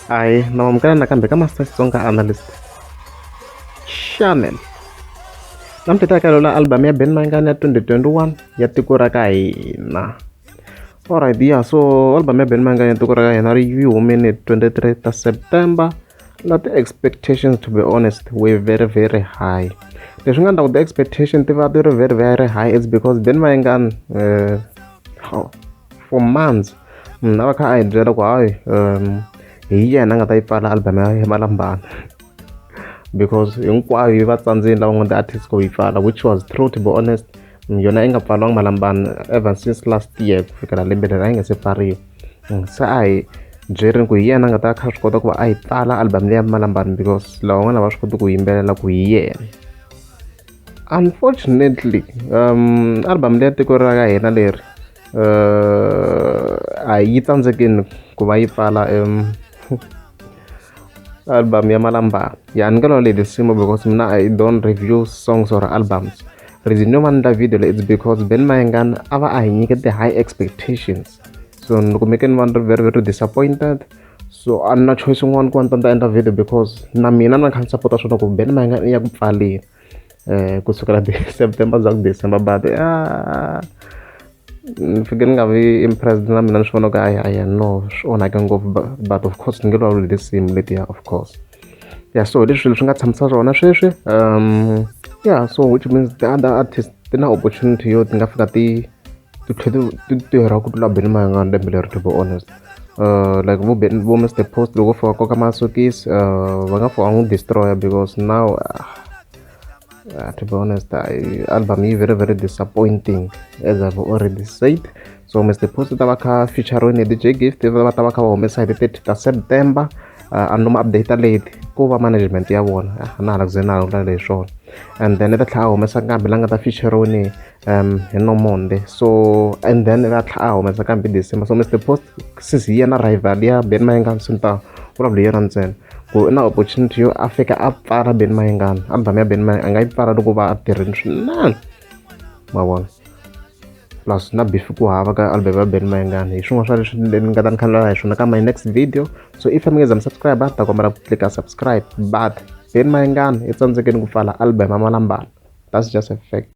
Aye, nawamukela nakambe ka Master Xitsonga Analyst Shaman. Namuntlha ta kalo la album ya Ben Mayengani ya 2021 ya tiko ra ka hina. Alright, yeah, so album ya Ben Mayengani ya tiko ra ka hina ri yi humene 23 ta September na ti-expectations to be honest were very very high leswi nga ndla ku ti-expectation ti va ti ri very very high it's because then va yingani eh, um for months mm, a va kha a hi byela ku hayi um hi yena a nga ta yi pfala album ya hi malambana because hinkwayo yi va tsandzeni lava nga ti-artist ku yi pfala which was true to be honest mm, yona yi nga pfariwanga malambana ever since last year ku fikela lembe leri a yi nga se pfariwa mm, se a hi byerini ku hi yena a nga ta kha swi kota ku va a yi pfala album leya malambana because lawa n'wana va swi koti ku yimbelela ku hi yena unfortunately um album leya tiko ra ka hina leri uh, a yi tsandzekini ku va yi pfala um album ya malambana ya ni ka lona leli simo because mina i don't review songs or albums reason yo va ni endla video leyi it's because ben mayengana a va a hi nyike ti-high expectations so ni kumeke ni va ni ri very very disappointed so a ni na choice yin'wana ku va ni ta ni ta endla video because na mina na kha ni sapota swona ku ben mayengana i ya ku pfaleni um kusukela september za ku december but a Ni fike ni nga vi impressed na mina ni swi vona ku hayi hayi no swi onhake ngopfu but but of course ni nge vulavuli hi tinsimu letiya of course ya so hi leswi swilo swi nga tshamisa swona sweswi ya so which means the other artist ti na opportunity yo ti nga fika ti ti tlhe ti ti tirha ku tlula Benny Mayengani lembe leri to be honest like vo Benny vo Mister Post loko vo fika va koka masokisi va nga pfa va n'wi destroy-a because now . Uh, to be honest, I, album is very very disappointing as I've already said. So Mr. Post Tabaka featuring DJ Gift Tabaka Omesa the 30th of September. Uh, and no update late ku va management ya vona ah, na hala ku ze na hala leswona and then ta tlhela humesa kambe la nga ta feature ni hi no monday so and then a tlha a humesa kambe december so mister post since hi yena rival ya ben mayengani swi ni ta vulavula hi yona ntsena ku i na opportunity yo a fika a pfala ben mayengani album ya ben mayengani a nga yi pfala loko va a tirhini swinene ma vona plus na beef ku hava ka album ya ben mayengani hi swin'wana swa leswi ni nga ta ni khalela hi swona ka my next video so if mi nge za mi subscribe ta kombela ku tlika subscribe but ben mayengani i tsandzekeni ku pfala album ya malambana that's just a fact